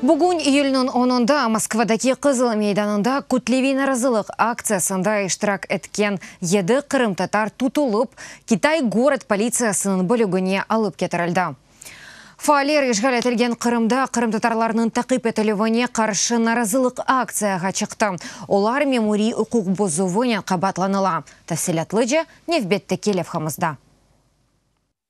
Bugün, iyülniñ onunda, Moskvadaki Qızıl meydanında kütleviy narazılıq aktsiyasında iştirak etken yedi qırımtatar tutulıp, Kitay gorod politsiyasınıñ bölügine alıp ketirildi. Faaller işğal etilgen Qırımda qırımtatarlarnıñ taqip etilüvine qarşı narazılıq aktsiyağa çıqtı, olar memuriy uquq bozuvınen qabaatlanıla, tafsilâtlıca nevbetteki levhamızda.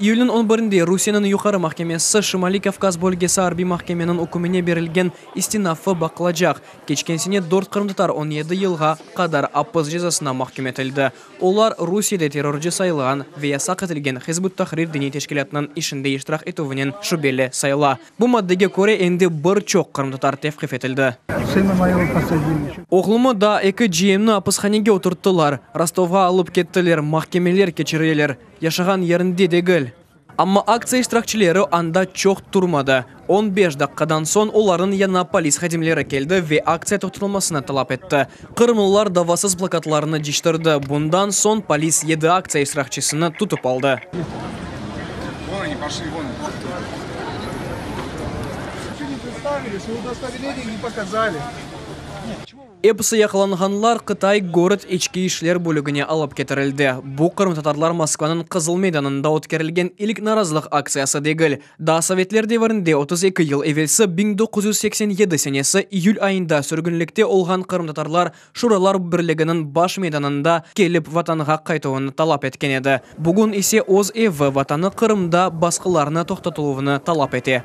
İyülniñ on birinde Rusiyeniñ Yuqarı mahkemesi Şimaliy Kavkaz bölgesi arbiy mahkemeniñ ükümine berilgen istinafı baqılacaq. Keçken sene dört qırımtatar on yedi yılğa qadar apis cezasına mahküm etildi. Olar Rusiyede terrorcı sayılğan ve yasaq etilgen Hizb ut-Tahrir diniy teşkilâtınıñ işinde iştirak etüvinen şübeli sayıla. Bu maddege köre endi bir çoq qırımtatar tevqif etildi. Oğlumı, daa eki ciyemni apishanege oturttılar, Rostovğa alıp kettiler, mahkemeler keçirileler. Yaşağan yerinde degil. Amma aktsiya iştirakçileri anda çoq turmadı. On beş daqqadan soñ olarnıñ yanına polis hadimleri keldi ve aktsiya toqtatılmasını talap etti. Qırımlılar davasız plakatlarnı ciştirdi. Bundan soñ polis yedi aktsiya iştirakçisini tutıp aldı. Episi yaqalanğanlar Qıtay Gorod İçki işler bölügine alıp ketirildi. Bu qırımtatarlar Moskvanıñ Qızıl meydanında ötkerilgen ilk narazılıq aktsiyası degil. Daa sovetler devirinde, otuz eki yıl evelsi biñ doquz yüz seksen yedi senesi iyül ayında sürgünlikte olğan qırımtatarlar Şuralar Birliginiñ baş meydanında kelip Vatanğa qaytuvını talap etken edi, bugün ise öz evi, Vatanı Qırımda basqılarnı toqtatıluvını talap ete.